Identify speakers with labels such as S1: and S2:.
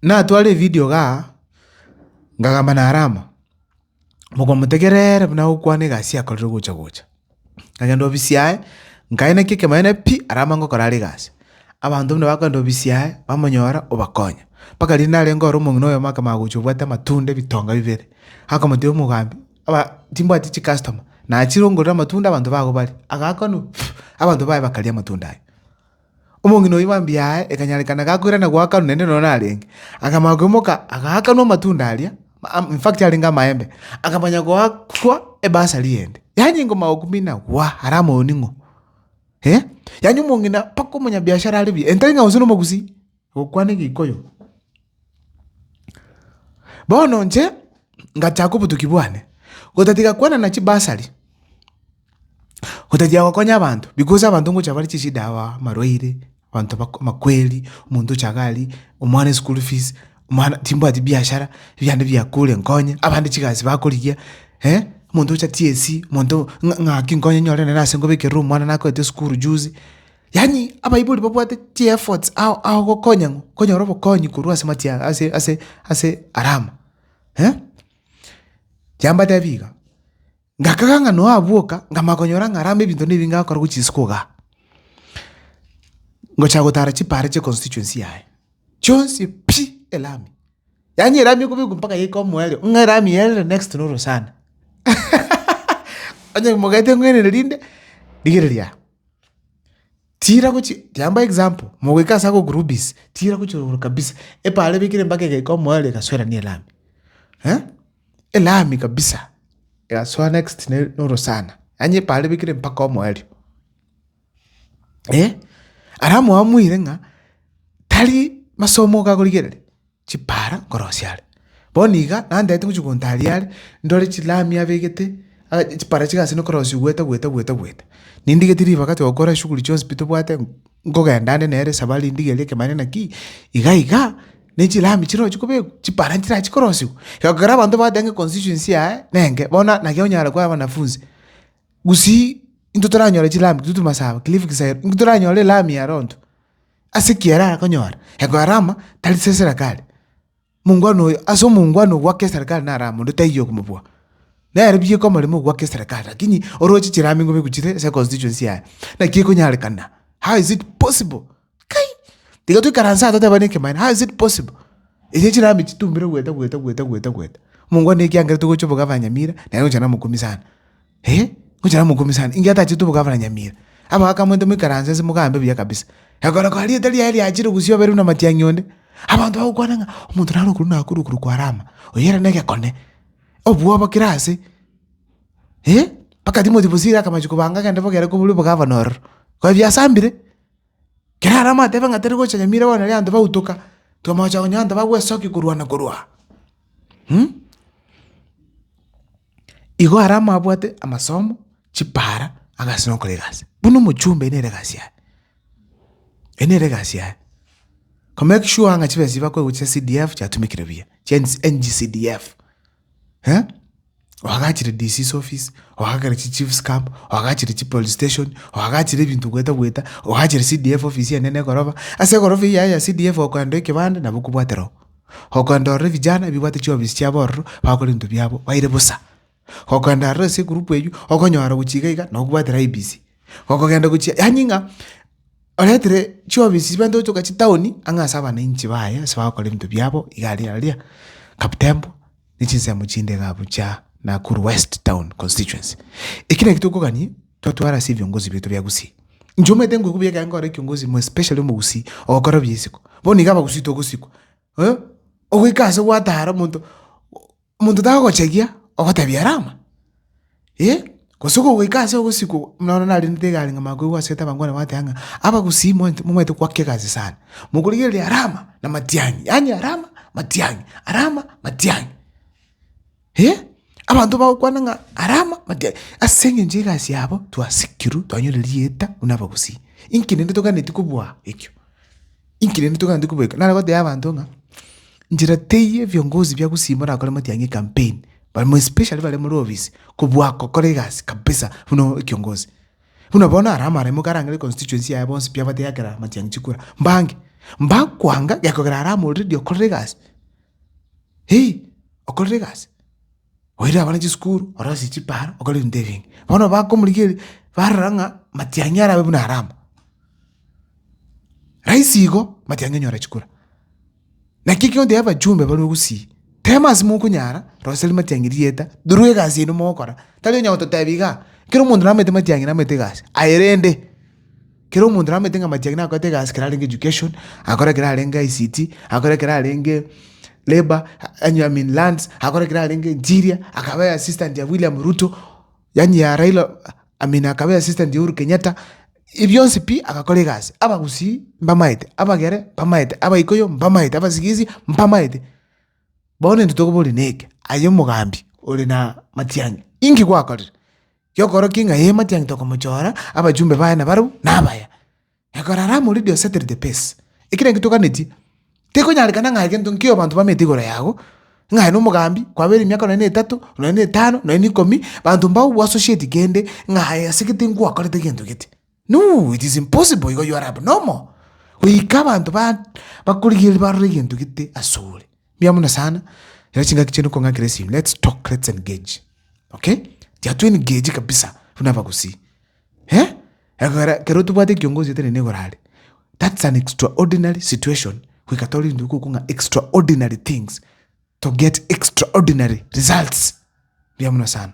S1: Natware evidio gaa, ngagamba na Rama, mogomotegerere buna agokwana egasi yakorire gocha gocha. Nkagenda ofisi yaye, nkaena ki ekemanyereria pi aria amange gokora are egasi. Abanto buna bakogenda ofisi yaye, bamonyora obakonya. Mpaka rende narenge ore omong'ina oyomo akaba agocha obwate amatunda ebitonga bibere, akamotebia omogambi, aba timbwati chicustoma, nachire ongorere amatunda abanto bago barie. Agaakwa ng'a abanto baye bakaria amatunda aye. Omong'ina oyio mambia yaye ekanyarekana gakoirana goakanwa naende nonya narenge, akamanya koimoka agaakanwa amatunda aria, in fact arenge amaembe, akamanya goakwa ebasari ende. Yaani ngoma gokumina waa are amaoning'o. Yaani omong'ina mpaka omonyabiashara are buya, entari ng'a gose nomogusii. Gokwana Egikoyo. Bono inche ngachaka obotuki bwane, gotatiga kwanana chibasari, gotatiga gokonya abanto, because abanto ngocha bare chishida aba, amarwaire, abanto bako amakweri, omonto ocha iga aria, omwana eschool fees, omwana timbwati biashara, ebiagenda bia kure nkonye, abande chigasi bakorigia, omonto ocha TSC, omonto ng'a ng'aki nkonye nyore nere ase ngobekerere omwana nakorete esukuru juzi. Yaani abaibori babwate chi'efforts ao ao gokonya ng'o? Konyora obokonyi korwa ase amachia ase ase ase Aramu. Chiambatebi iga, ngakaga ng'a Noa abwoka nkamanya konyora ng'a Aramu ebinto na ebinge agokora gochia isiko igaa, ngochia gotara chipaara chia econstituency yaye, chionsi pi! elami. Yaani elami ekobekwa mpaka yaika omoerio ng'a elami eye ere next to norosana onye mogete ng'wenere rinde, rigereria aa. Tira gochi kiambae example mogoika ase ago groupis tira gochia igoro kabisa epaaro ebekire mpaka egeka omoerio egasoerania elami eh elami kabisa egasoa next ne na orosana yaani epaaro ebekire mpaka omoerio eh. Alafu mwamoire ng'a tari masomo iga akorigereri. chipaara nkorosia are. Bono iga nanderete ngochia gontaaria are, ndore chilami abegete, chipaara chiga ase nkorosia goeta goeta goeta goeta. Nindigeti ribaga togokora eshughuli chionsi pi tobwate, nkogenda ande nere esabari ndigerie ekebare naki, iga iga, ne chilami chirochia kobekwa, chipaara nchirachie korosiwa. Iga ekero abanto bagoteeba ng'a constituency yaye nenge, bono naki onyare koa wanafunzi, gusii, intwe toranyore chilami, intwe toti masaba, cliff kisaero, intwe toranyore elami ero intwe. Ase ekiagera arakonyora egoarama tari se serikali. Omongwana oyo ase omongwana ogwake eserikali naro amo onde taiyo okomobua. Nere bieka omoremo ogwake eserikali lakini oroche chirame ngobe gochire ase constituency yaye. Naki ekonyarekana how is it possible? Kai! Tiga toikaranse aa totebane ekemanero how is it possible? Echi chirame echi titumbire goeta goeta goeta goeta goeta. Omongwana ekiagera togocha obogavanyamira nere ogocha nere omokumbia sana. Ee, ngocha namokumie sana, inki atachete obogafa na nyamira? Abwo akamwenta, Moikaranse inse mogambe buya kabisa. Ekero kora rieta riaye riachire gusio oberwe namatiang'i onde, abanto bagokwana ng'a omonto nare okorwa na akorwa okorokwa Arama, oyo ere negekone, obwoba kera ase. Ee, mpaka Timothy bosire akamache kobanga agende bogiare kobori obogafa nororo, koba biasambire. Kera are amatebe ng'a tari gocha Nyamira bono nari abanto bagotooka, tomogocha konya abanto bagwesokia korwana korwa aa. Igo are amabwate amasomo, chipaara, agasi na ogokora egasi. Buna omochumba ere nere egasi yaye, ere nere egasi yaye, komake sure ng'a chibesa echi bakoewa chia CDF chiatumekire buya, chia NGCDF. eh, oagachire DC's office, oagachire chichief's camp, oagachire chipolice station, oagachire ebinto gweta gweta, oagachire CDF office enene egoroba, ase egoroba eyio yaye ya CDF okoenda ekebande nabo okobwatera oo. Okoenda ororo vijana ebibwate chiofisi chiabo ororo bakore ebinto biabo baire bosa. Okoenda aroro ase egroup eywo okonyora gochia iga iga nokobwatera IEBC, okogenda gochia yaani ng'a. Oretire chiofisi chibaito gochoka chitaoni ang'e ase abananchi baye ase bagokora ebinto biabo iga aria aria Kaptembo ne chinsemo chinde iga abwo chia Nakuru West Town Constituency. Eki naki tokogania twatwara ase ebiongozi biaito bia Gusii. Inche omanyete ngoika buya ekero nkore ekiongosi more especially omogusii ogokora bia isiko. Bono iga abagusii togosikwa, eh, ogoika ase gwatara omonto. Omonto tagogochagia ogotebia rama, eh, gose okogoika ase ogosikwa okwo, buna bono narendete egari ng'a makoigwa asete abangwana bagoteeba ng'a abagusii moint- momaete goaka egasi sana, mokorigereria rama na matiang'i, yaani rama matiang'i, rama matiang'i, eh, abanto bagokwana ng'a rama matiang'i, ase eng'encho y'egasi yabo twasikirwe twanyora erieta buna abagusii, inki rende toganetie kobua ekio. Inki rende togante kobeka? Nare gotebia abanto ng'a nchera teiyo ebiongozi bia gusii morakore motianyi ecampaign, barimo especially bare more ofisi, kobua gokora egasi kabisa buna ekiongozi. Buna bono ara amaremo karangere constituency yaye bonsi pi abate eakerero motianyi chikura, mbange, mbakwanga gekogera ara ama already okorire egasi, hii, okorire egasi. Oire abana chisukuru, orosie chipara, okore ebinto ebinge. Bono bakomorigereria, barora ng'a matiang'i arabe buna are amo. Rahisi igo, matiang'i onyore chikura. Naki ekero oteba abachumba barwe gusii, tema ase mokonyara, rosia rimatiang'i rieta, torwa egasi yaino mogokora, tari onyara gototebia igaa, ekero omonto nabwate matiang'i nabwate egasi, aye rende. Kera omonto nabamanyete ng'a Matiang'i nakorete egasi ekero arenge education, akore ekero arenge ICT, akore ekero arenge labour, yaani I mean lands, akore ekero arenge interior, akabe assistant ya William Ruto, yaani ya Raila, I mean akabe assistant ya Uhuru Kenyatta, ebi bionsi pi agakora egasi. Abagusii mbamaete, abagere mbamaete, abaikoyo mbamaete, abasigisi mbamaete. Bono intwe tokoboria neke, aye omogambi ore na Matiang'i, inki gwakorire? Giokorokia ng'a ee matiang'e tokomochora, abachumbe baye nabarabwo nabaya. Ekero aramorire Dieu settle the pace. Eki nakio toganetie. Tikonyarekana ng'a egento nkio abanto bamete igoro yago, ng'a aye nomogambi, kwabeire emiaka nonya na etato, nonya na etano, nonya na ikomi, banto mbao bwa associate kende ng'a aye asegete ngwakorete gento gete. No, it is impossible igo you are abnormal goika abanto ba bakorigereria barore egento gete asore. Mbuya mono sana. Ere chingaki chiane okong'akera esimi. Let's talk, let's engage. Okay? Tia to engage kabisa buna abagusii. Eh? Ekogera kero tobwate ekiongozi etari negorare. That's an extraordinary situation. Goika tore into ko kong'a extraordinary things to get extraordinary results. Mbuya mono sana.